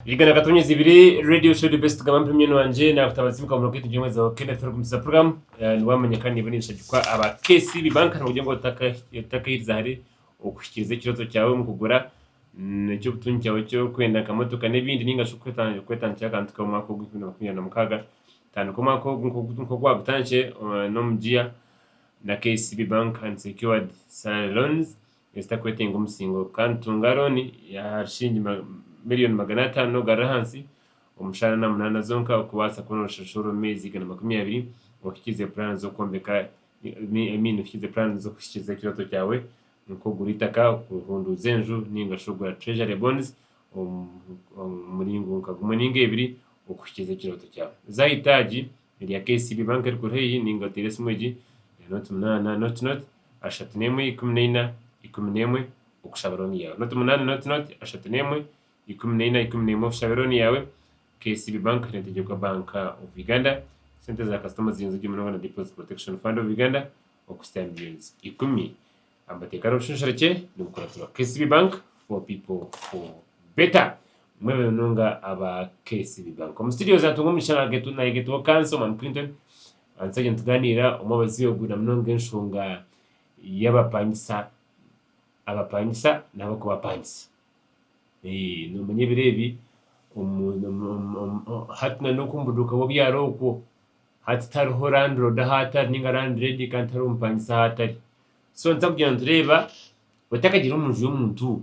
Yiga na Katonyezi ibiri Radio Show The Best Gamba Mpemye Nwangye nakutaba Zibuka Muno Kitu Jengwe Zaho Kenda Thoro Kumisa Program eh, niwamenyeka niba nibishagikwa aba KCB Bank nibagye ngo otaka- otakahiriza hari okuhikiriza ekiroto kyawe omu kugura mm, eky'obutungi kyawe ky'okwenda nka motoka n'ebindi ninga shi okweta- okwetandikira akantu kawe omwaka ogu enkumi na makumi abiri na mukaaga tandika omwaka ogu nk'ogu- nk'ogu wagutandikire eh, n'omugiya na KCB Bank and Secured Salary Loans ezitakwetenga omusingo, kandi tunga looni ya shilingi miriyoni magana ataano ogarure ahansi omu shana na munaana zonka okubaasa kubona orushashuuro omu meezi igana makumi abiri ohikiize puraani z'okwombeka I mean ohikiize puraani z'okuhikiiriza ekirooto kyaawe nk'ogura eitaka, okuhunduuza enju nainga shi okugura Treasury Bonds omu muringo nka gumwe nainga ebiri okuhikiiriza ekirooto kyaawe. Zaaho eitaagi erya KCB Bank erikuri haihi nainga oteere esimu egi, Note munaana, note note, ashatu n'emwe ikumi na ina ikumi na emwe okushabira oni yawe noti munani noti noti ashatu n'emwe ikumi na ina ikumi na emwe okushabira oni yawe KCB Bank hine Ntegyekwa Bank of Uganda sente za kasita omu ziyonzo gye munonga na Deposit Protection Fund of Uganda okusita millions ikumi amateeka n'obushunshura kye nibukuratirwa KCB Bank for people for better mwebe munonga aba KCB Bank omu studio za Tunga omu kishanga getu nayegetuho kansa omwami Clinton Aha nsi egyo nitugaaniira omu obubazi obu na munonga enshonga y'abapangisa, abapangisa n'ab'okubapangisa. Noomanya ebiro ebi hati n'oku omu buduuka bw'obu yaabe ari okwo, hati tihariho landiroodi ahu atari nainga landireedi kandi tihariho mupangisa ahu atari. So nituza kugira nitureeba otakagire omu nju y'omuntu.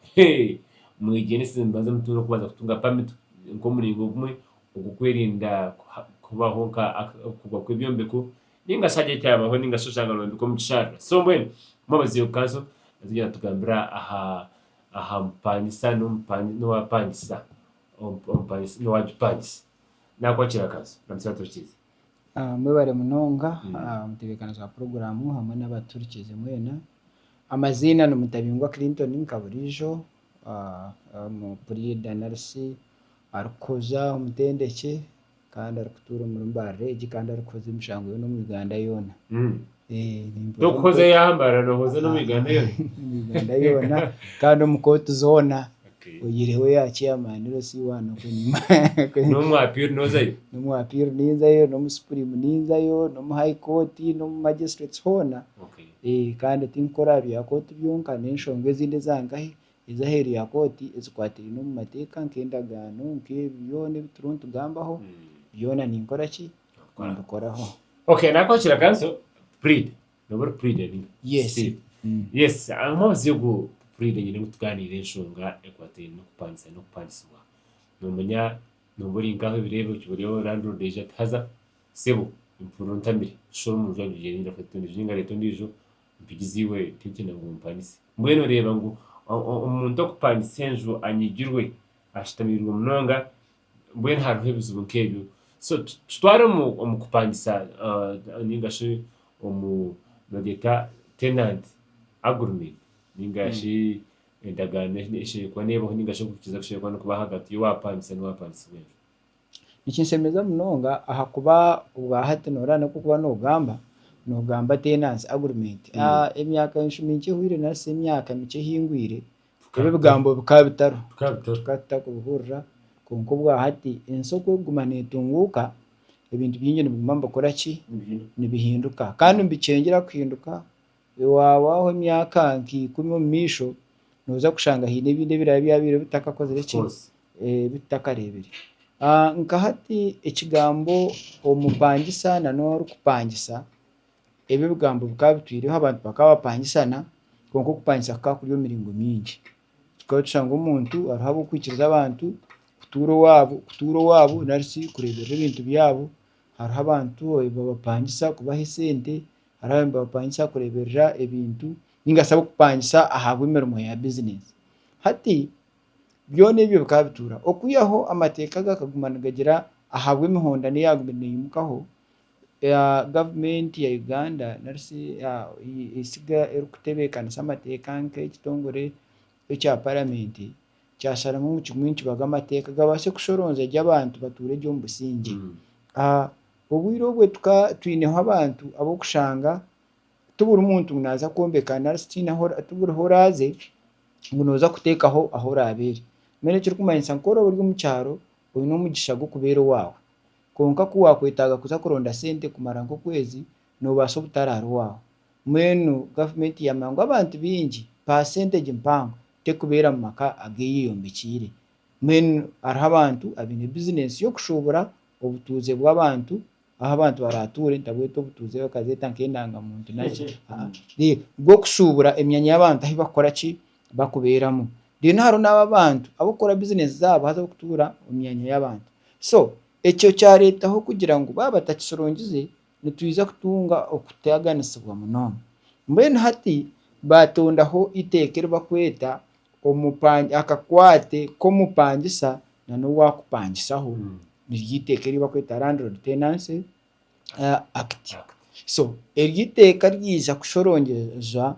Hee! Mwegyenese nimubanza mutunge okubanza kutunga pamiti nk'omuringo gumwe ogw'okwerinda kubaho nka kugwa kw'ebyombeko ninga shi hagire ekyabaho ninga shi oshanga noyombeka omu kisharara. So mbwenu harimu abazeyi omu kanso nitwija nitugambira aha aha mupangisa n'owapangisa n'owagipangisa. Nakwakira kanso. Ramukya Baturikirize. Mwebare munonga mutebeekaniza wa puroguraamu hamwe n'abaturikiize mwena. Amaziina ni Mutabingwa Clinton nka buriijo, Omupuriida NRC arikukuza omutendekye kandi arikutuura omuri Mbaarira egi kandi arikuhuza emishango yoona omu Uganda yoona. Tokuhoza ya mara nohoza n'omu Uganda yoona. Omu Uganda yoona kandi omu kooti zoona oyihireho eya chairman ero si one okwe enyima. N'omu appeal nozayo? N'omu appeal ninzayo, n'omu supreme ninzayo, n'omu high court, n'omu magistrates hoona. Kandi tinkukora aha bya kooti byonka n'enshonga ezindi eza nkahi ez'aheeru ya kooti ezikwatiraine omu mateeka nk'endagaano nk'ebyo byona ebi turiho nitugambaho byona ninkora ki? kumbikoraho Okay, nakwakira kanso Pride. Noba ori Pride ninga? Yes. Pride. Mm. Yes, harimu obuzibu bwo Pride nyine ngu tuganiire enshonga ekwataine n'okupangisa n'okupangisibwa. Noomanya nooba ori nkaho ebireebe oti buriya landlord aija ati haza sebo empurira ontamire shusha omu nju agira ngu reeta endiijo ninga reeta endiijo mpigize iwe tintiine ngu ompangise. Mbwenu oreeba ngu o- o- omuntu okupangisa enju anyigirwe, ashutamiirwe munonga, mbwenu hariho ebizibu nk'ebyo. So tutware omu kupangisa nainga shi omu nogeeta tenant agreement nainga shi endagaano eshemereire kuba neebaho nainga shi okuhikiiriza kushemereire kuba nikubaho ahagati y'owaapangisa n'owaapangisibwa enju. Nikinshemeza munonga ahakuba obwahati nooreeba n'oku orikuba noogamba, noogamba tenancy agreement. Emyaka enshumi nkye ehweire nari shi emyaka mikye ehingwire, Ebi ebigambo bikaba bitariho, Bikaba bitariho. tukaba tutakubihurira, kwonka obwahati ensi oku erikuguma neetunguuka, ebintu bingi nibiguma nibikora ki? Nibihinduka. Nibihinduka. Kandi nibikyengyera kuhinduka, waahwaho emyaka nka ikumi omu maisho, nooza kushanga haine ebindi ebiraabe byabaire bitakakozire ki? Kikoze. Eh, ebi tutakareebire. Ah, nka hati ekigambo omupangisa na n'orikupangisa, Ebi ebigambo bikaba bitwireho abantu bakaba bapangisana, kwonka okupangisa kukaba kuri omu miringo mingi. Tukaba tushanga omuntu hariho ab'okwikiriza abantu kutuura owaabo, kutuura owaabo nari shi kureeberera ebintu byabo. Hariho abantu ababapangisa kubaha esente, hariho abandi nibabapangisa kureeberera ebintu, nainga shi ab'okupangisa ahabw'emirimo ya bizineesi. Hati byona ebyo bikaba bituuraho. Okwihaho amateeka gakaguma nigagira ahabw'emihondano eyabaire neyimukaho, Gavumenti ya Uganda nari shi eitsiga erikutebeekanisa amateeka nk'ekitongore ekya paramenti kyasharamu ngu kimwe nikibaga amateeka gabaase kushoroonza gye abantu batuure gye omu busingye. Obwire obwe tukaba twineho abantu ab'okushanga ti buri muntu ngu naaza kwombeka nari shi tihaine ahu ti buriho oraaze ngu nooza kuteekaho ahu oraabeere. Mbwenu ekirikumanyisa nk'oraabe ori omu kyaro oine omugisha gw'okubeera owaawe. Kwonka ku waakwetaaga kuza kuronda sente kumara nk'okwezi, noobaasa obutararwaho. Mbwenu gavumenti yaamanya ngu abantu baingi paasentegi mpango terikubeera mu maka ageeyeyombekiire. Mbwenu hariho abantu abaine bizinensi y'okushuubura obutuuze bw'abantu ahu abantu baraatuure, ntabweta obutuuze bakazeeta nk'endangamuntu naki, haa, reero bw'okushuubura emyanya y'abantu ahu bakukora ki, bakubeeramu. Reero hariho n'abo abantu ab'okukora bizineesi zaabo haza ab'okutuura omu myanya y'abantu. So, ekyo kyareetaho kugira ngu baaba batakishurongize, nitwija kutunga okutaaganisibwa munonga. Mbwenu hati baatondaho eiteeka eri barikweta akakwate k'omupangisa n'owaakupangisaho. Niryo eiteeka eri barikweta Landlord Tenancy. Act. So eryo iteeka ryija kushorongyereza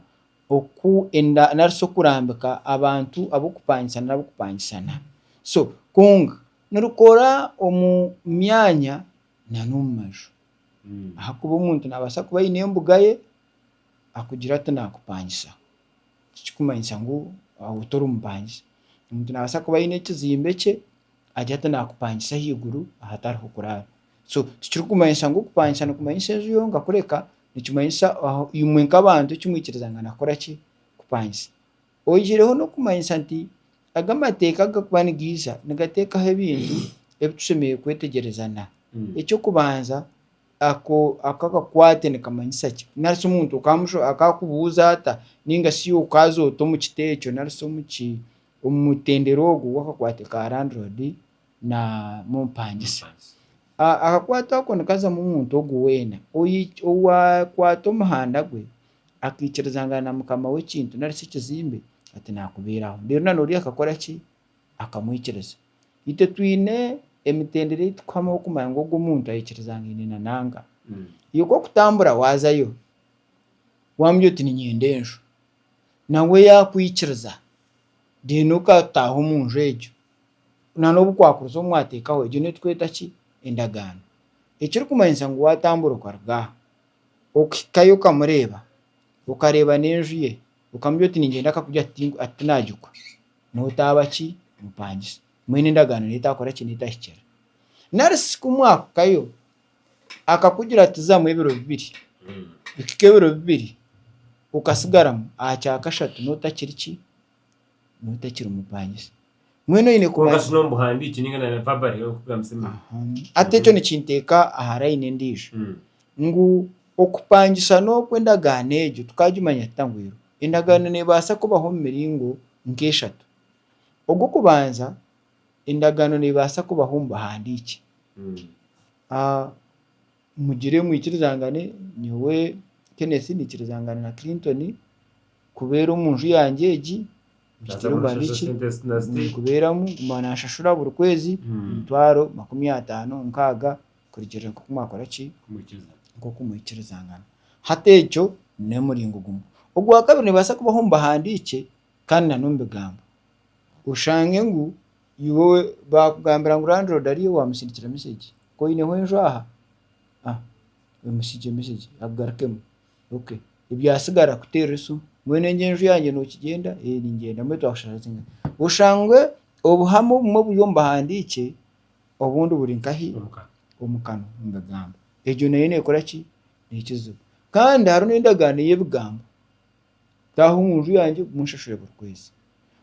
oku enda nari shi okurambika abantu ab'okupangisa nari ab'okupangisana. So kwonka nirikora omu myanya na n'omu maju. Ahakuba omuntu naabaasa kuba aine embuga ye, akugire ati naakupangisa, tikirikumanyisa ngu oba tori mupangisa. Omuntu naabaasa kuba aine ekizimbe kye, agire ati naakupangisa ahaiguru ahatariho kuraara. So tikirikumanyisa ngu okupangisha nikumanyisa enju yonka kureka nikimanyisa aho imwe nk'abantu eki mwikirizangana kukora ki? Kupangisa. Oihireho n'okumanyisa nti aga amateeka agakuba nigaiza nigateekaho ebintu ebi tushemereire kwetegyereza na. Eky'okubanza, ako ako akakwate nikamanyisa ki? Nari shi omuntu okaamusho akaakubuuza ata nainga shi okaaza ota omu kiti ekyo nari shi omu ki omu mutendera ogwo ogw'akakwate ka Landlord? na mumpangisa. A Ahakwata okwo nikazamu omuntu ogwo weena oyi owaakwata omuhanda gwe, akaikirizangana na mukama w'ekintu nari shi ekizimbe, ati naakubeeraho. Reero na n'ori akakora ki? Akamwikiriza. Itwe twine emitendera ei tukuhamaho kumanya ngu ogwo omuntu aikirizangaine na nanga. Iwe ku okutambura waazayo, waamubwira oti niinyenda enju, nawe yaakwikiriza, reero okataaha omu nju egyo. Na n'obu kwakuriza omu mwateekaho, egyo niyo turikweta ki? Endagaano. Ekirikumanyisa ngu waatambura okaruga aha, okuhikayo okamureeba, okareeba n'enju ye, okamubwira oti ningyenda akakugira ati ati tinaagikwa, nootaaba ki? Mupangisa. Mbwenu endagaano neyo etaakora ki? N'etahikira. Nari shi ku mwakuhikayo, akakugira ati zamu ebiro bibiri, bihika ebiro bibiri, okasigaramu, aha kya kashatu nootakiri ki? Nooba otakiri mupangisa. Mbwenu oine Kwonka kubanza. shuna omubuhandiiki ninga na verbally orikugambisa emiti. Aha. Hati ekyo nikinteeka aha layini endiijo. Mm. Ngu okupangisa n'okwo endagaano egyo tukagimanya tuta ngu eriho? Endagaano neebaasa kubaho omu miringo nk'eshatu. Ogw'okubanza, endagaano neebaasa kubaho omu buhandiiki. Mm. A. Mugire mwikirizangane, nyowe Kenneth niikirizangana na Clinton kubeera omu nju yangye egi. Nikiteera omwana eki ndikubeeramu guma naanshashura buri kwezi emitwaro makumi ataano nkaaga kurugiirira nk'oku mwakora ki? Nk'oku mwikirizangana. Hati egyo n'emuringo gumwe. Ogwakabiri nibaasa kubaho mbihandiikye kandi nan'omu bigambo oshange ngu Iwe baakugambira ngu landiroodi ariyo waamusindikira mesegi? Ku oineho enju aha? Ah, omusindikire mesegi agarukemu. Okay. Ebyatsigara kuteerera esimu. Mbwenu egyo enju yangye nookigyenda? Ee, ningyenda. Mbwenu twakushashura singahi? Oshange obuhame obumwe buri omu buhandiikye, obundi buri nkahi? Omu kanwa, omu bigambo. Egyo nayo neekora ki? Neekiziba. Kandi hariho n'endagaano y'ebigambo. taaha omu nju yangye ogume onshashure buri kwezi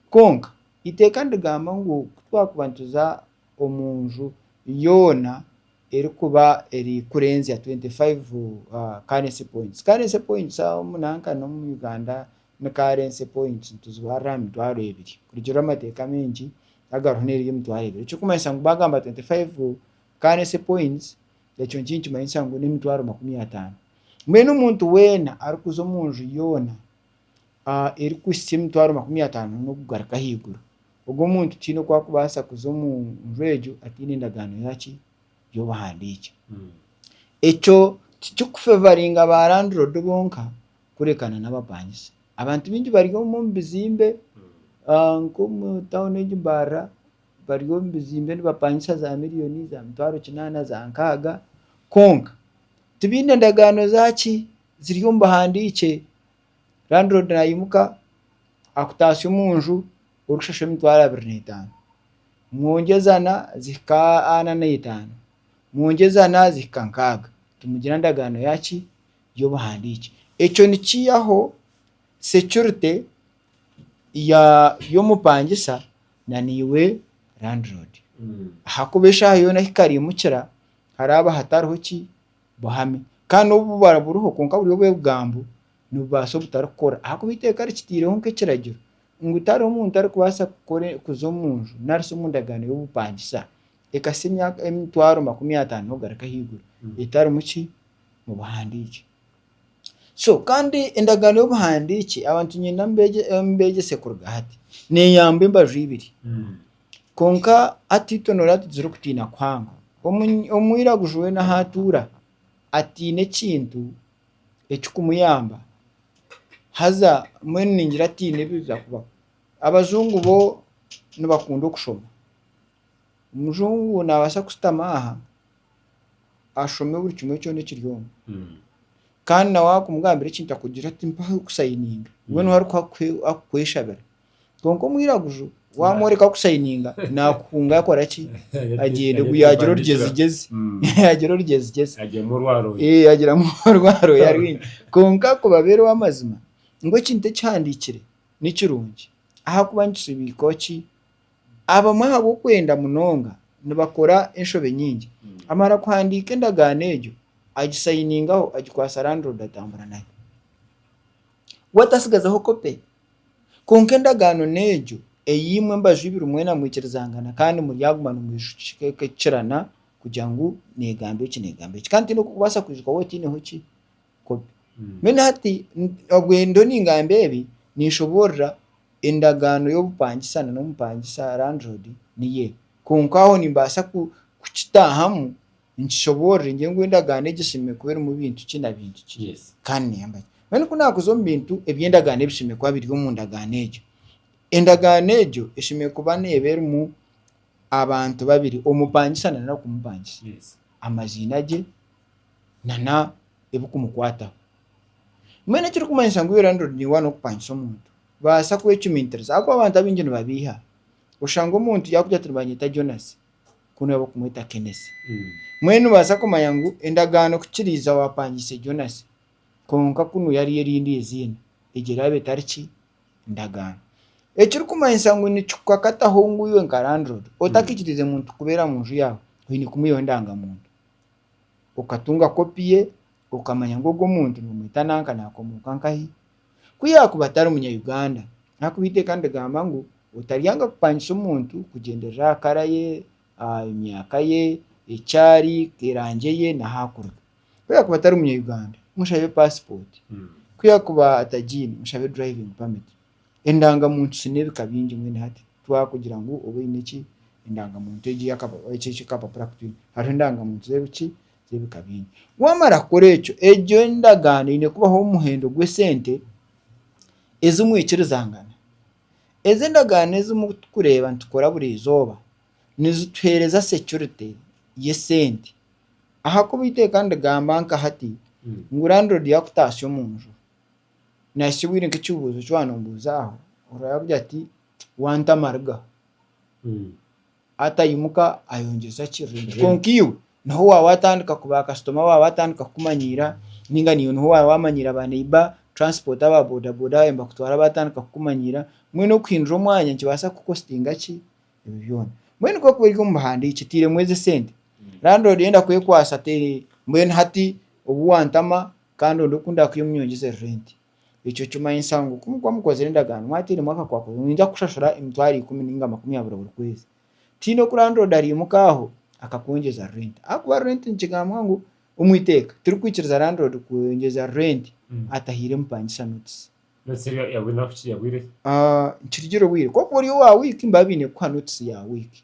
kwonka eiteeka nirigamba ngu ku twakuba nituza omu nju yoona erikuba erikurenzya twenti faivu karensi pointi karensi pointi omu nanka n'omu Uganda ni karensi pointi nituzibarira aha mitwaro ebiri kurugirira amateeka maingi agariho n'eryemitwaro ebiri ekirikumanyisa ngu baagamba twenti faivu Currency points, ekyo nikyo nikimanyisa ngu n'emitwaro makumi ataano. Mbwenu omuntu weena arikuza omu nju yoona erikuhitsya emitwaro makumi ataano n'okugaruka ahaiguru, ogwo omuntu tihaine oku arikubaasa kuza omu nju egyo ataine endagaano yaaki? Y'obuhandiiki. Ekyo tikirikufevaringa ba landiroodi bonka kureekana n'abapangisa. Abantu baingi bari omu bizimbe nk'omu tauni egi mbarira bari omu bizimbe nibapangisa za miriyoni, za mitwaro kinaana, za nkaaga, kwonka tibaine ndagaano zaaki ziri omu buhandiikye, landiroodi naimuka akutaase omu nju orikushashura emitwaro abiri n'etaano, mwongyezana zihika ana n'etaano, mwongyezana zihika nkaaga, timugira ndagaano yaaki? y'obuhandiikye, ekyo nikiihaho securite. y'omupangisa na naiwe landiroodi. Ahakuba eshaaha yoona ahu ekarimukira haraaba hatariho ki buhame. Kandi n'obu bubara buriho kwonka buri obw'ebigambo, nibubaasa obutarikukora ahakuba eiteeka rikitiireho nk'ekiragiro ngu tihariho muntu arikubaasa kukora kuza omu nju nari shi omu ndagaano y'obupangisa ekasa emyaka emitwaro makumi ataano n'okugaruka ahaiguru etarimu ki mu buhandiikye. Kandi endagaano y'obuhandiiki abantu niinyenda mbeegyese kuruga hati neeyamba embaju ibiri. Kwonka hati itwe nooreeba tugizire okutiina kuhanga. Omwiraguju weena ahu atuura atiine ekintu ekirikumuyamba haza mbwenu ningira atiine ebiza kubaho. Abajungu bo nibakunda okushoma. Omujungu naabaasa kushutama aha ashome buri kimwe kyona ekiri omu kandi nawe wakumugambira ekintu akugira ati mpa kusayininga we niwe arikuha kuhe- akukweshabira kwonka omwiraguju wamworeka kusayininga nakuhunga yakora ki agyende gu yagira orugyezigezi yagira orugyezigezi agyemu orwaroya Eh, agiramu orwaroya rwingi kwonka kubabeera ow'amazima ngu ekintu ekihandiikire nikirungi ahakuba nikisibiika ki Abamwe ahabw'okwenda munonga nibakora enshobe nyingi. Amara kuhandiika endagaano egyo, agisayiningaho agikwasa landlord atambura nayo. We tatsigazaho kope. Kwonka endagaano n'egyo ei imwe mbaju ibiri mwena mwikirizangana kandi muryaguma nimwishukikirana kugira ngu neegamba eki neegamba eki. Kandi tihaine oku orikubaasa kwijuka waaba otaineho ki? kopi. Mbwenu hati obwe ndiho ningamba ebi, ninshoborora endagaano y'obupangisa na n'omupangisa, landlord, niye. Kwonka aho nimbaasa ku kukitaahamu nkishoborore ngire ngu endagaano egi eshemereire kuba erimu bintu ki na bintu ki. Yes. Kandi niyamba ki. Mbwenu ku naakuza omu bintu ebi endagaano ebishemereire kuba biri omu ndagaano egyo, endagaano egyo eshemereire kuba neeba erimu Abantu babiri, omupangisa na n'arikumumpangisa, amaziina gye na n'ebikumukwataho. Mbwenu ekirikumanyisa ngu landlord niwe waine okupangisa omuntu, baasa kwecumintiriza ahabw'okuba abantu abaingi nibabeiha. Oshanga omuntu yaakugira ati nibanyeta Jonas ku niwe barikumweta Kenesi. Mbwenu noobaasa kumanya ngu endagaano ku kiriiza waapangiise Jonas, kwonka ku niwe yariyo erindi eiziina, egyo eraaba etari ki? ndagaano. Ekirikumanyisa ngu nikikukakataho ngu iwe nka landlord otakikirize muntu kubeera mu nju yaawe, oine kumwihaho endangamuntu. Okatunga kopi ye, okamanya ngu ogu omuntu nimumweta nanka naakomoka nkahi. Ku yaakuba atari Munya-Uganda, ahakuba eiteeka nirigamba ngu otaryanga kupangisa omuntu kugyendera aha kara ye, emyaka ye, eki ari, erangi ye, n'ahu arikuruga. Ku yaakuba atari Munya-Uganda, mushabe paasipooti. Ku yaakuba atagiine, mushabe driving permit. Endangamuntu ziine ebika bingi mbwenu hati twakugira ngu obe oine ki, endangamuntu egi ey'akapa eki eki ekapapura aku twine. Hariho endangamuntu z'ebi ki, z'ebika bingi. Waamara kukora ekyo, egyo endagaano eine kubaho omuhendo gw'esente ezi mwikirizangana. Ezi endagaano ezi murikureeba nitukora buri izooba, nizituheereza securite y'esente ahakuba iteeka nirigamba nka hati ngu landlord yaakutaasya omu nju nahitsya obwire nk'ekibuuzo ki waanombuuza aho orora yaakugira ati wanta amariga ataimuka ayongyeza ki rent kwonka iwe niho waaba waatandika ku baakasitoma baawe baatandika kukumanyiira nainga naiwe niho waaba waamanyiira ba neighbour transport aba bodaboda baabaire nibakutwara baatandika kukumanyiira mbwenu okuhindura omwanya nikibaasa kukukostinga ki ebyo byona mbwenu ku orikuba ori omu buhandiiki oteiremu ezi esente landiroodi yenda kwekwatsa te- mbwenu hati obu wantama kandi onde oku ndakwiha omunyongyezere renti ekyo kimanyisa ngu ku mukuba mukozire endagaano mwateiremu akakwakwa ninyija kushashura emitwaro ikumi nainga makumi abiri buri kwezi tihaine oku landiroodi araimuka aho akakwongyeza renti ahakuba renti nikigambwa ngu omu iteeka tirikwikiriza landiroodi kwongyeza renti atahaire mupangisa notice. Nikitugira obwire kwonka ori owa wiiki nibaba baine kukuha notice ya wiiki,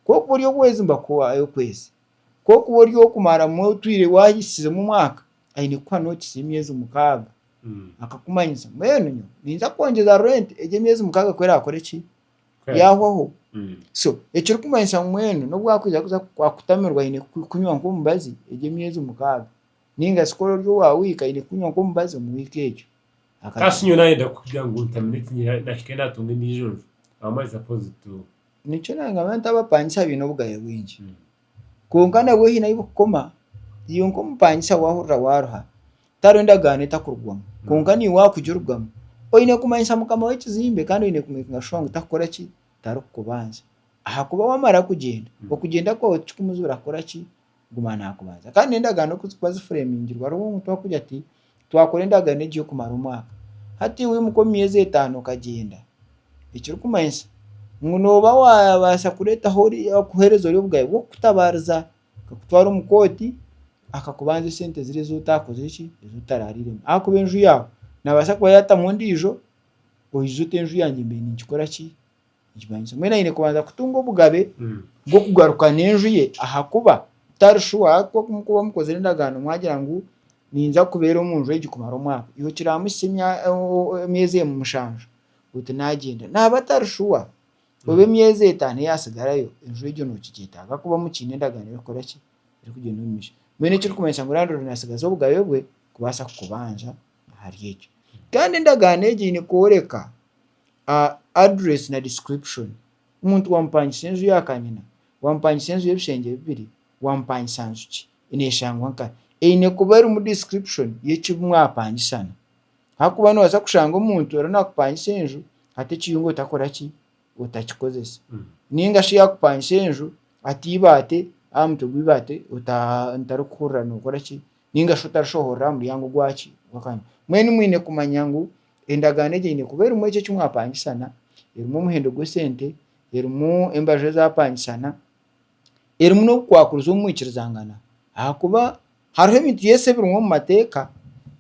kwonka ori ow'okwezi nibakuha ey'okwezi, kwonka ku ori ow'okumara otwire wahisize mu mwaka aine kukuha notice y'emyezi mukaaga akakumanyisa mbwenu nyowe ninza kwongyeza rent egyo emyezi mukaaga ku erakore ki yahwaho so ekirikumanyisa ngu mbwenu n'obu akwija kuza kukutamirwa aine kukunywa nk'omubazi egyo emyezi mukaaga. Ninga shi ku ori owa wiiki aine kukunywa nk'omubazi omu wiiki egyo. Akagamba. Ka shi nyowe naayenda kugira ngu ntamire eki nyiha nahike naatunga endiijo nju. Ahamwe aza pozi tu. Nikyo naagamba nti abapangisa baine obugabe bwingi. Kwonka nabwo haine ahu bukukoma. Iwe nk'omupangisa waahurira waaruha, tihariho endagaano etakurugwamu. Kwonka niiwe waakugirugamu. Oine kumanyisa mukama w'ekizimbe kandi oine kumekinga shuwa ngu takukora ki? Tarikukubanza. Ahakuba waamara kugyenda, okugyenda kwawe tikikumujuura kukora ki? kuguma naakubanza kandi n'endagaano ku zikuba zifureemingirwe hariho omuntu wakugira ati twakora endagaano egi y'okumara omwaka hati wimuka omu myezi etaano okagyenda ekirikumanyisa ngu nooba waabaasa kureetaho ori kuheereza ori obugabe bw'okukutabaariza akakutwara omu kooti akakubanza esente ziri ezi otaakozire ki ezi otaraariiremu ahakuba enju yaawe naabaasa kuba yaatamu endiijo oije ote enju yangye mbe ninkikora ki Nikimanyiisa mbwenu aine kubanza kutunga obugabe bw'okugarukana enju ye ahakuba tari shuwa ku mukuba mukozire endagaano mwagira ngu ninza kubeera omu nju egi kumara omwaka, iwe kiraamuhitsya emya o- emyezi emwe mushanju oti naagyenda. Naaba atari shuwa oba emyezi etaano eyatsigarayo enju egyo nookigyetaaga ahakuba mukiine endagaano erikukora ki? Erikugyenda omu maisho. Mbwenu ekirikumanyisa ngu landlord naatsigaza obugabe bwe kubaasa kukubanja ahari ekyo. Kandi endagaano egyo eine kworeka Address na description, omuntu waamupangisa enju ya kanyina, waamupangisa enju y'ebishengye bibiri, waamupangisa nju ki, neeshangwa nkahi? Eine kuba erimu description y'eki mwapangisana ahakuba noobaasa kushanga omuntu ariyo naakupangisa enju ata ekiyungu otakora ki, otakikozesa. Nainga shi yaakupangisa enju ata eibaati aha mutwe gw'eibaati otarikuhurira nookora ki, nainga shi otarishohorora aha muryango gwaki, gw'akanyina. Mbwenu mwine kumanya ngu. Endagaano egyo eine kuba erimu ekyo eki mwapangisana, erimu omuhendo gw'esente, erimu embaju ezaapangisana, erimu n'obukwakurizi obu mwikirizangana. Ahakuba hariho ebintu Yesu ebirimu omu mateeka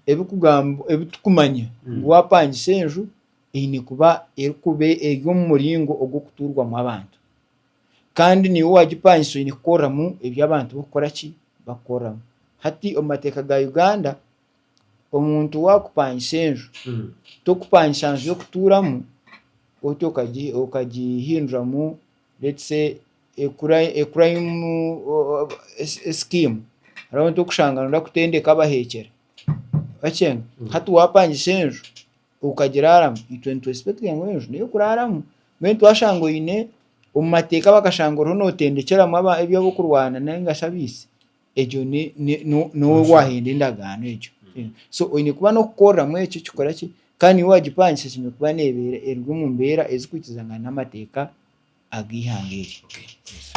ebikugamba ebi turikumanya ngu waapangisa enju eine kuba erikuba eri omu muringo ogw'okutuurwamu abantu. Kandi naiwe waagipangisa oine kukoreramu ebi abantu barikukora ki? Barikukoreramu. Hati omu mateeka ga Uganda, omuntu waakupangisa enju, tokupangisa nju y'okutuuramu oti okagi- okagihinduramu let's say ekura- ekurayimu sikiimu, hariho omuntu orikushanga nooda kutendeka abaheekyere, orakyenga? Hati waapangisa enju okagiraaramu, itwe nitwesipekitiga ngu enju n'ey'okuraaramu, mbwenu itwe twashanga oine omu mateeka bakashanga oriho nootendekyeramu aba- eby'abokurwana nainga shi abaisi, egyo nowe wahenda endagaano egyo mm. so oine kuba nokukoreramu ekyo kikora ki kandi niwe wagipangisa kiine kuba nebeera eri omu mbeera ezikuhikizangana n'amateeka ag'eihanga eri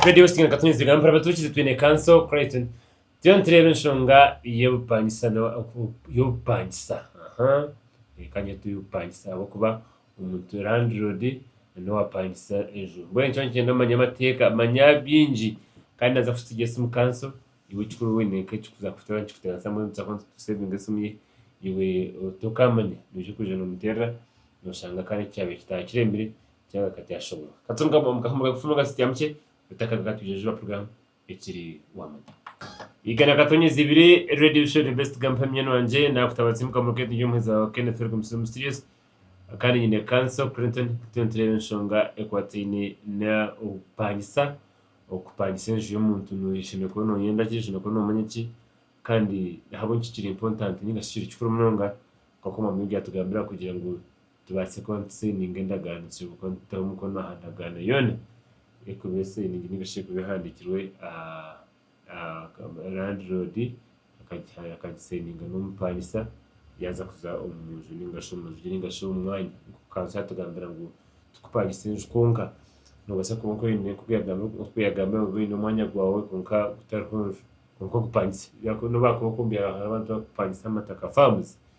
Radio Singana Katonyezibwa Mpora Batuukizi twine kanso Creighton turiyo nitureeba enshonga y'obupangisa n'obupangisa aha kanyetwe obupangisa ahabw'okuba Omuntu landlord niwe wapangisa enju. Mbwenu nikyo nikyenda omanye amateeka, manya bingi kandi naza kusigikiira esimu council. Iwe ekikuru oyine nk'ekikuza kushuturaho nikikutebeekanisa busaho ngu tu savinge esimu ye. Iwe otookamanya noija kwija noomuteerera noshanga kare kyabaire kitaakiremire, kyanga kati ashoboorwe. Kati omu ka omu ka omu kafumu akasitiamukye, otakabi katwijajuba kuruga ekiri wamanya. Igana katonyezi ibiri Radio Show The Best Gampa Emyeno Yangye Nakutaba Tsimuka Muruketi Ndi Omuheezi Wawe Kenneth Eric Musiri Mysterious Kandi Nyine Kanso Clinton Turiyo Nitureeba Enshonga Ekwataine N'okupangisa Okupangisa Enju Y'omuntu Noyeshembe Kuba Noyenda Ki Oshembe Kuba Nomanya Ki Kandi Ahabw'enki Kiri Important Ninga Shi Kiri Kikuru Munonga Nk'oku Omwami Yesu Yatugambira Kugira Ngu tubaase kuba nitusayininga endagaano tushemeriire kuba nituteho omukono aha ndagaano yoona erikuba esayiningi nari shi erikuba ehandiikirwe landiroodi akagisayininga n'omupangisa yaaza kuza omu nju nari shi omurugire nari shi omu mwanya. Kantu yaatugambira ngu tikupangisa enju kwonka, noobaasa kuba oine nk'oku yaagambire ngu oine omwanya gwaawe kwonka gutariho nju kwonka ogupangise, n'obu barikuba bakwombiire ahantu barikupangisa amataka, faamuzi.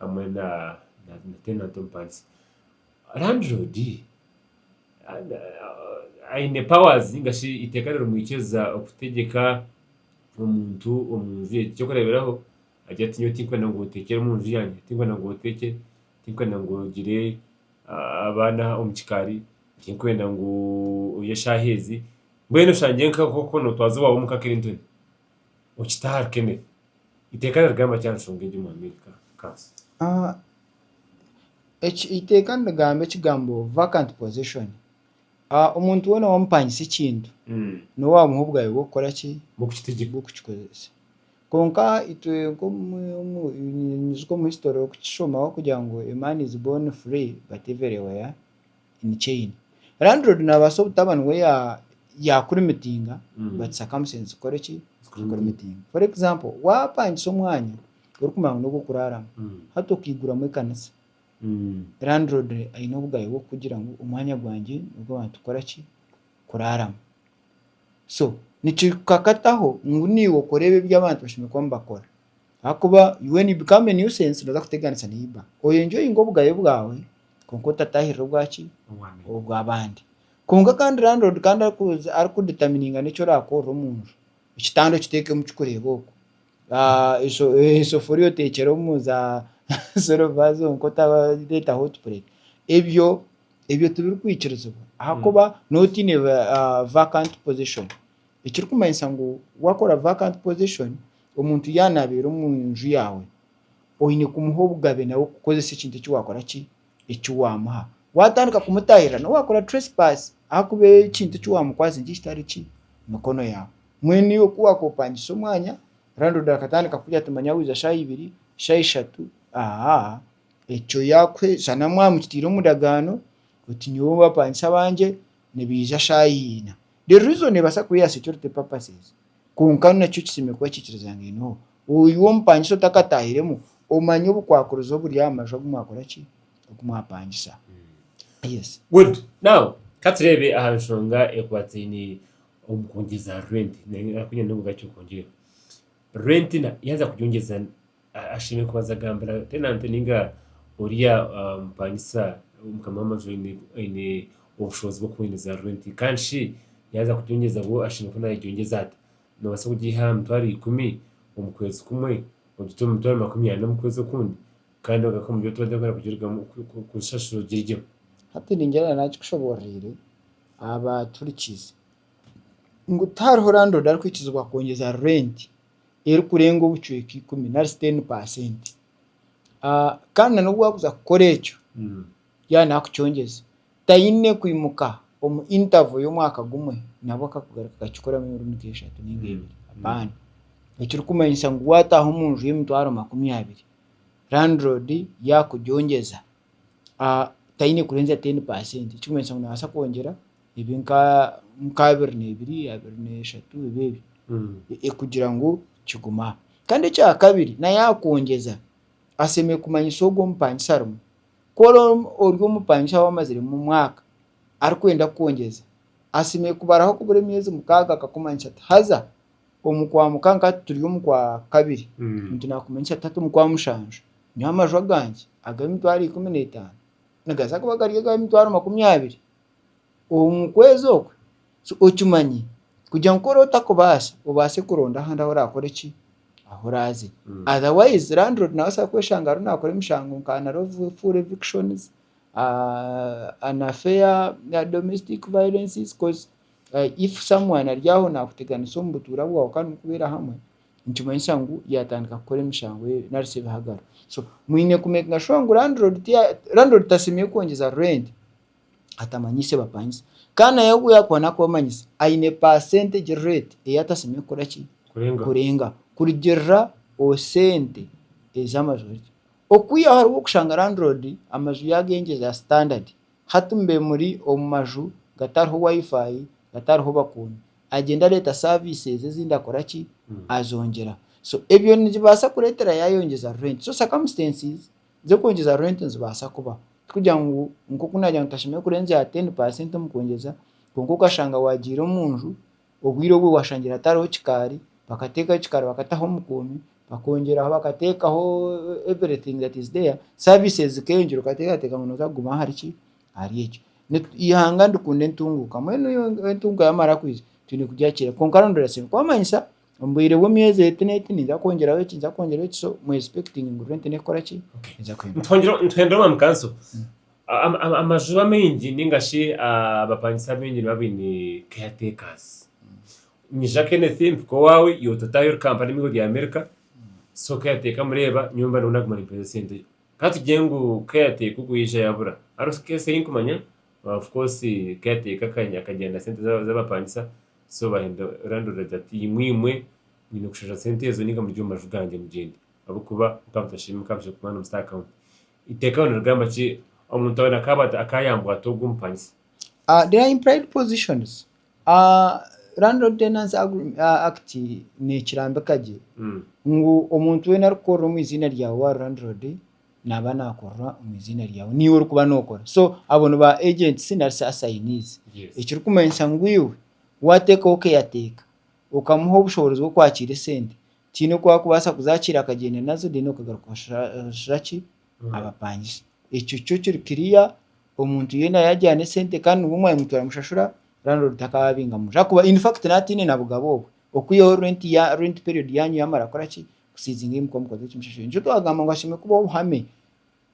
hamwe na tenanti omupangizi. Landiroodi aine powaazi nainga shi eiteeka ririmwikiriza kutegyeka omuntu omu nju egi. Eky'okureeberaho agira ati nyowe tinkwenda ngu oteekyere omu nju yangye, tinkwenda ngu oteekye, tinkwenda ngu ogire abaana omu kikaari, tinkwenda ngu orye eshaaha ezi. Mbwenu oshangire nk'oku nootwaza owaawe omuka Clinton. okite ahari Kenneth. Iteeka nirigamba ki aha nshonga egi omuri Amerika? Cars. Eki eiteeka nirigamba ekigambo vacant possession. Omuntu weena waamupangisa ekintu, niwe waamuha obwabe bw'okukora ki? Bw'okukikozesa. Kwonka itwe nk'omu history orikukishomaho kugira ngu a man is born free but everywhere. in chain landlord nabaasa obutaba niwe ya- yakurimitinga Mm. but circumstances zikore ki zikurimitinga for example wapangisa omwanya orikumanya ngu nogu okuraaramu Mm. hati okaiguramu ekanisa Mm. landlord aine obugabe bw'okukugira ngu omwanya gwangye nogw'abantu kukora ki kuraaramu so nikikakataho ngu naiwe okore ebi ebi abantu bashemereire kuba nibakora Ahakuba when you become a nuisance noza kuteganisa neighbor. Oye enjoyinga obugabe bwawe kwonka otatahirira obwa ki? Obwa bandi. Kwonka kandi landlord kandi arikuza ariku determininga neki orakorera omu nju. Ekitanda okiteke omu kikureba okwo. Esoforiya otekyere omu za silver zonka otareta hot plate. Ebyo ebyo tibirikwikirizibwa ahakuba noba otiine vacant position. Ekirikumanyisa ngu wakora vacant position Omuntu yaanaabeera omu nju yaawe, oine kumuha obugabe nawe kukozesa ekintu eki waakora ki? Eki waamuha. Waatandika kumutaahirira, nawe wakora trespass ahakuba ekintu eki waamukwatsire nikyo kitari ki? Mikono yaawe. Mbwenu iwe ku waakopaangisa omwanya, landlord akatandika kugira ati manya waiza shaaha ibiri, shaaha ishatu, aa, ekyo yaakuhe, shana mwamukitaire omu ndagaano oti nyowe abapaangisa bangye nibaija shaaha ina. The reason ebaasa kuba eya security purposes. Kwonka ni naki okisemeriire kuba okiikiriza ngu eineho. Oiwe omupangisa otakataahiremu, omanya obukwakuriza oburi aha maju agu mwakora ki? Ogu mwapangisa. Yes. Good. Now, ka tureebe aha nshonga ekwataine omu kwongyeza rwenti. Naanye naakugira ngu nabwo gari ky'okwongyerwa. Rwenti na yaaza kugyongyeza Ashemereire kubanza kugambira tenanti ninga oriya mupangisa mukama w'amaju aine obushobozi bw'okuhwendeza rwenti. Kandi shi yaaza kugyongyeza bwo ashemereire kuba naagyegyongyeza ata? Noobaasa kugiiha aha mitwaro ikumi omu kwezi kumwe, ogite omu mitwaro makumi ana omu kwezi okundi kandi ogaruke omu by'otubaire turikwenda kugirugamu kugishashura ogiryeho. Hati ningira na naakikushobororeire aba aturikiize ngu tihariho landoodi arikwikizibwa kwongyeza rwenti erikurenga obucweka ikumi nari shi teni pasenti. Ah, kandi na n'obu waakuza kukora ekyo, yaaba naakucongyeza, taine kwimuka omu interval y'omwaka gumwe nabwo akakugaruka akakikoramu emirundi nka eshatu nainga ebiri. Hapana. Ekirikumanyisa ngu waataaha omu nju y'emitwaro makumi abiri, landlord yaakugyongyeza, taine kurenza teni paasenti ekikumanyisa ngu naabaasa kwongyera ebi nk'abiri n'ebiri abiri n'eshatu ebi ebi e- e- kugira ngu kigume aha kandi ekyakabiri naye akwongyeza asemeye kumanyisa ogwo omupangisa arimu ku ori omu- ori omupangisa wamaziremu omwaka arikwenda kwongyeza asemeye kubaraho kubura emyezi mukaaga akakumanyisa ati haza omu kwa muka nka turi omu kwa kabiri Mm. nti nakumanya nti atatu omu kwa mushanju nyowe amaju agangye ag'emitwaro ikumi n'etaano nigaza kuba gari ag'emitwaro makumi abiri omu kwezi okwe so okimanye kugira ngu kuri otakubaasa obaase kuronda ahandi ahu orakore ki ahu oraaze Mm. otherwise landlord nabaasa kweshanga ariho nakora emishango nka nari efu- full evictions ah, unfair domestic violences coz Uh, if someone ari aho nakuteganisa omu butuura bwawe kandi mukubeera hamwe, nikimanyisa ngu yatandika kukora emishango eyo nari se ebihagaro. So, mwine kumakinga shuwa ngu landlord tiya, landlord tasemeriire kwongyeza rent atamanyise bapangisa. Kandi naye obu yakuba nakubamanyisa, aine percentage rate ei atasemeriire kukora ki? Kurengaho. Kurengaho. Kurugirira omu sente ezi amaju gari. Okwihaho hariho okushanga landlord amaju yagengyeza standard. Hati mube muri omu maju gatariho WiFi, gatariho bakuuni, agyenda areeta services ezindi akora ki? Azongyera. So ebyo nibibaasa kureetera yaayongyeza rent. So circumstances z'okwongyeza rent nizibaasa kubaho. Tikugira ngu nk'oku naagira ngu tashemereire kurenzya aha ten percent omu kwongyeza, kwonka okashanga waagiire omu nju, Obwire obwo waashangire hatariho kikaari, bakateekaho ekikaari bakataho omukuumi, bakongyeraho bakateekaho everything that is there, services zikeengyera okateekateeka ngu nooza kuguma ahari ki, ahari ekyo. Nitu eihanga nirikunda entunguuka, mbwenu entunguuka yaamara kwija, twine kugira ki reero? Kwonka rondora sente, kwamanyisa omu bwire bw'emyezi eti n'eti ninza kwongyeraho eki ninza kwongyeraho eki so mu expecting ngu rent neekora ki, neeza kwija. Nituhongyera nituhendera omwami kanso Amajuba maingi ninga shi abapangisa baingi niba baine caretakers. Nyija Kenneth mpika owawe, iwe ototaayo ori Kampala emigo rya America, so caretaker mureeba nyowe mba ndiho naguma nimpeereza esente. Ka tugire ngu caretaker ogwo yaija yabura, hariho sika ensi ei nkumanya of course caretaker aka- akagyenda na sente za- z'abapangisa so bahenda landlord ati ati imwe imwe mwine kushashura sente ezo ninga muri omu maju gangye mugyende ahabw'okuba nka mutashemereire kuba na mu state account. Iteeka ryo nirigamba ki omuntu weena akaaba akayambwa ata ogu omupangisa? There are implied positions. Landlord Tenancy Act nekirambika gye ngu omuntu weena arikukorera omu eiziina ryaawe waaba ori landlord naaba nakorera omu eiziina ryaawe niiwe orikuba nokora so abo ni ba agents nari shi assignees ekirikumanyisa ngu iwe wateekaho okeyateeka Okamuha obushoboorozi bw'okwakiira esente, tihaine oku wakubaasa kuzakiira akagyenda nazo then okagaruka okashashura ki abapangisa. Ekyo kyo kiri clear, omuntu yoona yagira n'esente kandi niwe omwanyima turamushashura, landlord takaba abinga munju ahakuba in fact nawe ataine na bugabo obwo. Okwihaho rent ya rent period yanyu yamara kukora ki kusiizinga ei mukuba mukozire okimushashura. Nikyo twagamba ngu hashemereire kubaho obuhame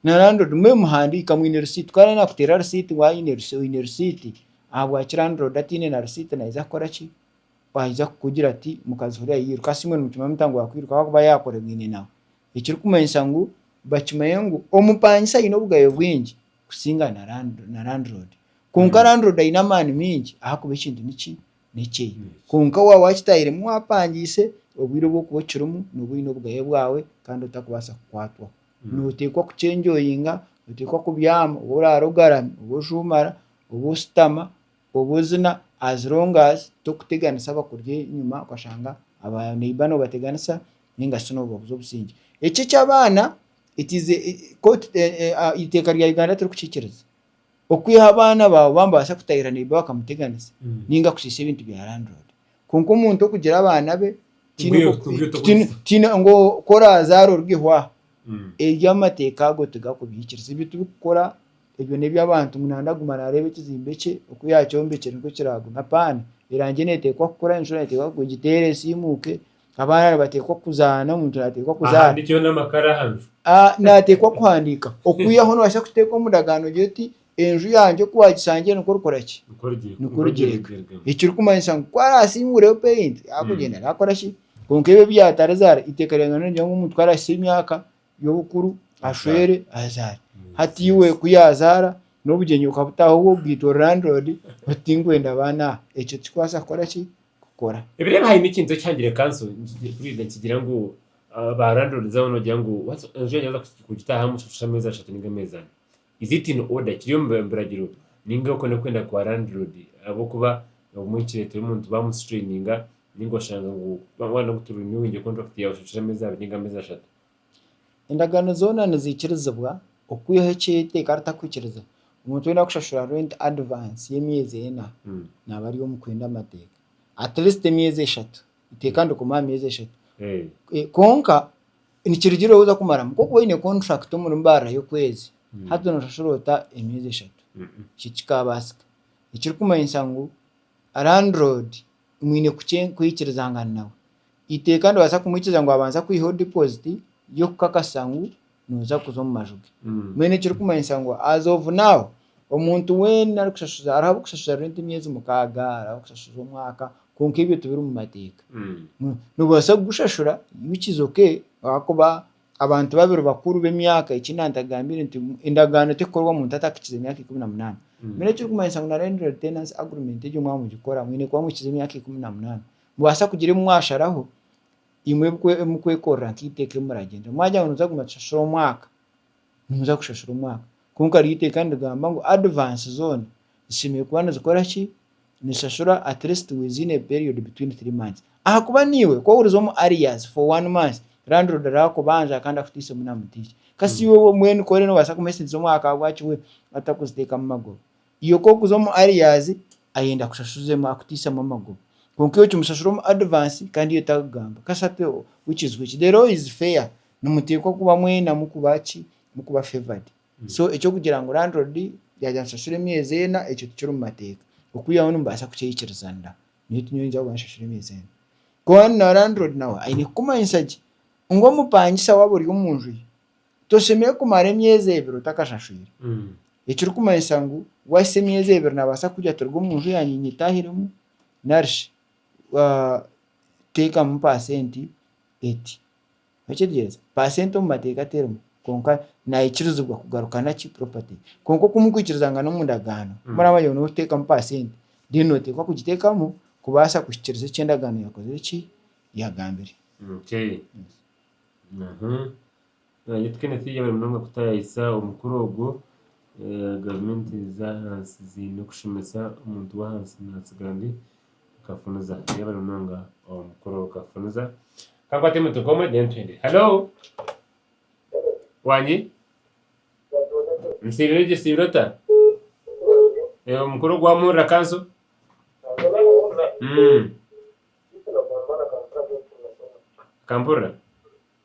na landlord mube muhandiika mwine receipt ku ari nakuteera receipt ngu aine receipt ahabwaki landlord ataine na receipt naiza kukora ki Aija kukugira ati, Mukazi huri ahairu. Kasi imwe nimukimanya muta ngu akwiruka ahakuba yaakoregaine nawe? Ekirikumanyisa ngu bakimanya ngu omupangisa aine obugabe bwingi kusinga na na landiroodi. Kwonka landiroodi aine amaani mingi ahakuba ekintu niki n'ekyeye. Kwonka waaba wakitaahiremu waapangiise, obwire obu orikuba okirimu nooba oine obugabe bwawe kandi otarikubaasa kukwatwaho. Nooteekwa kukyenjoyinga, nooteekwa kubyama, obu oraara ogarami, obu ojuumara, obu oshutama. Obu ozina as long as tokuteganisa abakurya enyima okashanga aba neighbor nobateganisa ninga shi nobabuza obusingye. Eki eki abaana it is court iteeka rya Uganda tirikukikiriza. Okwiha abaana baawe baba nibabaasa kutahirira neighbor bakamuteganisa ninga kushiisha ebintu bya landlord. Kwonka omuntu okugira abaana be tihaine Obwiire oku- tibwire tihaine- tokwitsa. tihaine ngu ku oraazaara oruga ehwaaha Mm. ebyo amateeka ago tigakubiikiriza ebi turikukora ebyo n'eby'abantu ngu naandi aguma naareeba ekizimbe kye oku yaakyombekire nikwo kiraaguma apaana erangi neeteekwa kukura enshuro neeteekwa kugwa egiteera esiimuuke abaana nibateekwa kuzaana omuntu naateekwa kuzaana Ahandikirwe n'amakara aha nju. Ah, naateekwa kuhandiika okwihaho noobaasa kuteeka omu ndagaano gye oti Enju yangye ku waagishangire nikwo orikora ki? Nikwo origireka. Nikwo origireka. Origireka. Ekirikumanyisa ngu ku araasiimuureho peyinti, arikugyenda naakora ki? Kwonka ebyo ebi yaatarizaara, eiteeka rya Ruhanga nirigira ngu omuntu ku araahitsya emyaka y'obukuru, ashwere, azaare. Hati iwe ku yaazaara, n'obugyenyi bukabutaaho obwo bwitwa ori landiroodi, oti tinkwenda baana aha. Ekyo tikikubaasa kukora ki? Kukora. Ebireeba haine ekintu eki hangire kanso nkigire kuriija nikigira ngu ba landiroodizi abo noogira ngu enju yaanyu yaaza kugitaahamu oshashura ameezi ashatu nainga ameezi ana. Is it in order kiri omu biragiro ninga okwo n'okwenda kwa landlord ahabw'okuba obumwe nikireetera omuntu baamusituraininga ninga oshanga ngu waayenda ngu tu renewinge contract yaawe oshashura emeezi abiri ninga emeezi ashatu. Endagaano zoona niziikirizibwa okwihaho eki eiteeka ritakwikiriza. Omuntu weena arikushashura rent advance y'emyezi ena naaba ari omu kwenda amateeka. At least emyezi eshatu. Eiteeka nirikomaho aha myezi eshatu. Kwonka. Nikirugiirira ou oza kumaramu. Nk'okuba oine kontrakiti omuri baara y'okwezi, Mm. hati nooshashura ota emyezi eshatu? Mm-mm. Ekyo tikikaabaasika. Ekirikumanyisa ngu landiroodi mwine kukye- kwikirizangana nawe. Eiteeka nibaasa kumwikiriza ngu abanza kwihaho dipoziti y'okukakasa ngu nooza kuza omu maju ge. Mm. Mbwenu ekirikumanyisa ngu as of now, Omuntu weena arikushashuza ari ahabw'okushashuza renti emyezi mukaaga, ari ahabw'okushashuza omwaka, kwonka ebyo tibiri omu mateeka. Noobaasa kugushashura which is ok ahakuba abantu babiri bakuru b'emyaka eki nantagambire nti endagaano terikukorwa omuntu atakikize emyaka ikumi na munaana. Mbwenu ekirikumanyisa ngu na landlord tenancy agreement egyo mwaba nimugikora mwine kuba muhikize emyaka ikumi na munaana. Nimubaasa kugira ebi mwasharaho imwe ebi mukwekorera nk'eiteeka ebi muragyenderamu. Mwagira ngu nooza kuguma kushashura omwaka, Nimuza kushashura omwaka. Kwonka ryo iteeka nirigamba ngu advance zoona zishemereire kuba nizikora ki? Nizishashura at least within a period between three months. Ahakuba naiwe ku ohuriza omu arrears for one month, landlord araakubanja kandi akuteisemu na mutihya. Kasita iwe mbwenu ku ori noobaasa kumuhesintiza omwaka ahabwaki we atarikuziteekamu maguru? Iwe ku orikuza omu arrears ayenda kushashuzeemu akutiisamu amaguru kwonka iwe okimushashura omu advance kandi iwe takugamba kasati which is which? The law is fair nimuteekwa kuba mwena mukuba ki? mukuba favoured so eky'okugira ngu landlord yaagira nshashure emyezi ena ekyo tikiri omu mateeka okwihaho nimubaasa kukyeikirizaanira ngu nyowe tinyowe ningira kuba nshashure emyezi ena kwonka na landlord nawe aine kukumanyisa gye ngu omupangisa waaba ori omu nju ye Toshemereire kumara emyezi ebiri otakashashwire. Ekirikumanyisa ngu waahitsya emyezi ebiri naabaasa kugira ati ruga omu nju yangye nyetaahiremu nari shi teekamu paasenti eti. Orakiteegereza? Paasenti omu mateeka terimu kwonka naikirizibwa kugaruka na ki? Puropati. Kwonka oku murikwikirizaangana omu ndagaano, ku muraaba yoona orikuteekamu paasenti, reero nooteekwa kugiteekamu kubaasa kuhikiiriza eki endagaano yaakozire ki? Yaagambire. Okay. Naitwe twena turi abaire munonga kutaayayisa omukura ogwo. Gavumenti z'ahansi ziine okushemesa omuntu w'ahansi naatsigara ndi kafuniza. Turi abaire munonga omu mukura ogwo kafuniza. Ka nkwate omuntu nk'omwe then tugende. Halo! Wangi? Nsiibire gye, osiibire ota? Omukura ogwo wamuhurira kanso? Okampurira?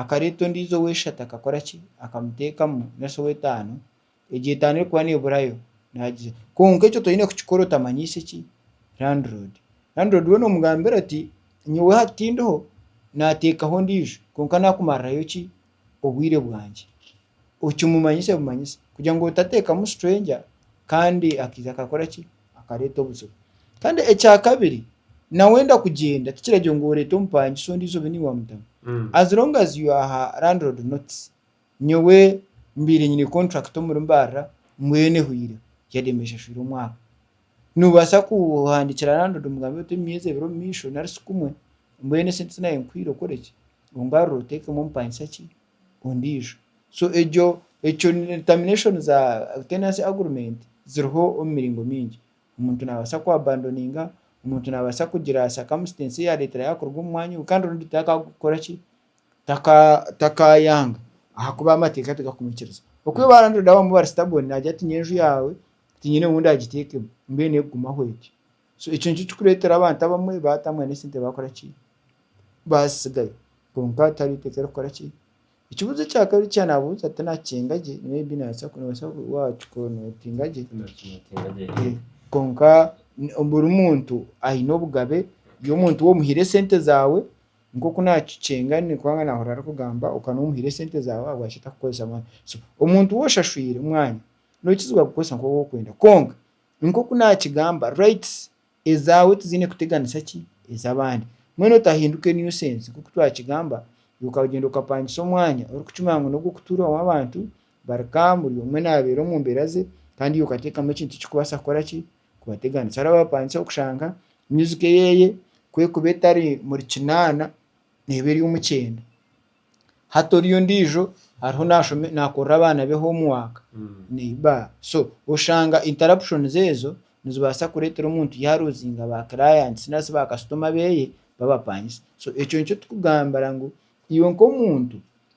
Akareeta ondiijo ow'eishatu akakora ki? Akamuteekamu nari shi ow'etaano, egyo etaano erikuba neeburayo naagira. Kwonka ekyo toine kukikora otamanyiise ki? Landiroodi. Landiroodi we noomugambira oti, nyowe hati tindiho, naateekaho ondiijo, kwonka naakumarirayo ki? Obwire bwangye. okimumanyise bumanyise kugira ngu otateekamu stranger kandi akaija akakora ki, akareeta obuzibu. Kandi ekyakabiri, nawe enda kugyenda tikiragira ngu oreete omupangisa ondiijo obe niiwe wamutamu. As long as you aha landlord notice, nyowe mbaire nyine contract omuri Mbarara mbwenu ehweireho yade mba nshashwire omwaka. Noobaasa kuhandiikira landlord omugambe oti emyezi ebiri omu maisho nari sikumwe, mbwenu esente ezi naabe nkwiire okore ki, ongarure oteekemu omupangisa ki, ondiijo. So egyo ekyo termination za tenancy agreement ziriho omu miringo mingi. Omuntu naabaasa ku abandoninga, omuntu naabaasa kugira circumstance eyaareetera yaaruga omu mwanya ogwo kandi obundi takaakora ki, taka takaayanga ahakuba amateeka tigakumwikiriza. Okwo iwe landlord waawe bari stubborn naagira ati niinye enju yaawe tinyine ou ndagiteekemu, mbwenu erikugumaho egi. So ekyo nikyo kirikureetera abantu abamwe baata mbwenu esente baakora ki? Baazitsigayo. Kwonka hatariho eiteeka erikukora ki? Ekibuuzo ekya kabiri eki naabuuza tinaakikinga gye, maybe noobaasa noobaasa waakikora nootinga gye. Kwonka buri muntu aine obugabe, iwe omuntu waaba omuhaire esente zaawe, nk'oku naakikinga ndi kubanga naahurira arikugamba, okaba nooba omuhaire esente zaawe ahabwaki atakukoresa mwanya? So omuntu ou oshashwire mwanya, nookizibwa kugukoresa nk'oku orikwenda kwonka Nk'oku naakigamba, rights ezaawe tiziine kuteganisa ki ez'abandi. Mbwenu otahinduke nuisance. Nk'oku twakigamba, iwe okagyenda okapangisa omwanya orikukimanya ngu n'ogw'okutuuraho abantu bari calm, buri omwe naabeera omu mbeera ze, kandi iwe okateekamu ekintu ekirikubaasa kukora ki, kubateganisa. Hariho abaapangisaho kushanga music eyeeye ku ekuba etari murikinaana, neeba eri omu kyenda. Hati ori ondiijo ariho nashome nakorera abaana be homework neiba so oshanga interruptions ezo nizibaasa kureetera omuntu yaaruuzinga ba clients nari shi ba customer beeye babapangisa so ekyo nikyo turikugambira ngu iwe nk'omuntu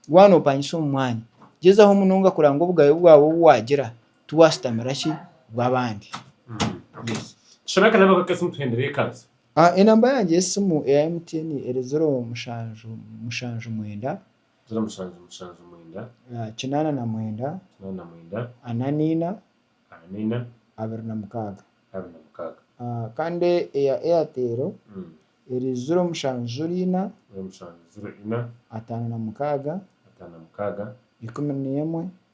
waaba noopangisa omu mwanya gyezaho munonga kureeba ngu obugabe bwawe obu waagira tiwaasitamira ki bw'abandi. Yes. Shana akanaba akakazi mutuhendere ekanisa. Enamba yangye y'esimu eya MTN eri ziro mushanju mushanju mwenda. Ziro mushanju mushanju mwenda. Kinaana na mwenda. Kinaana na mwenda. Ana naina. Ana naina. Abiri na mukaaga. Abiri na mukaaga. Kandi eya Airtel eri ziro mushanju ziro ina. Ziro mushanju ziro ina. Ataano na mukaaga. Ataano na mukaaga. Ikumi n'emwe.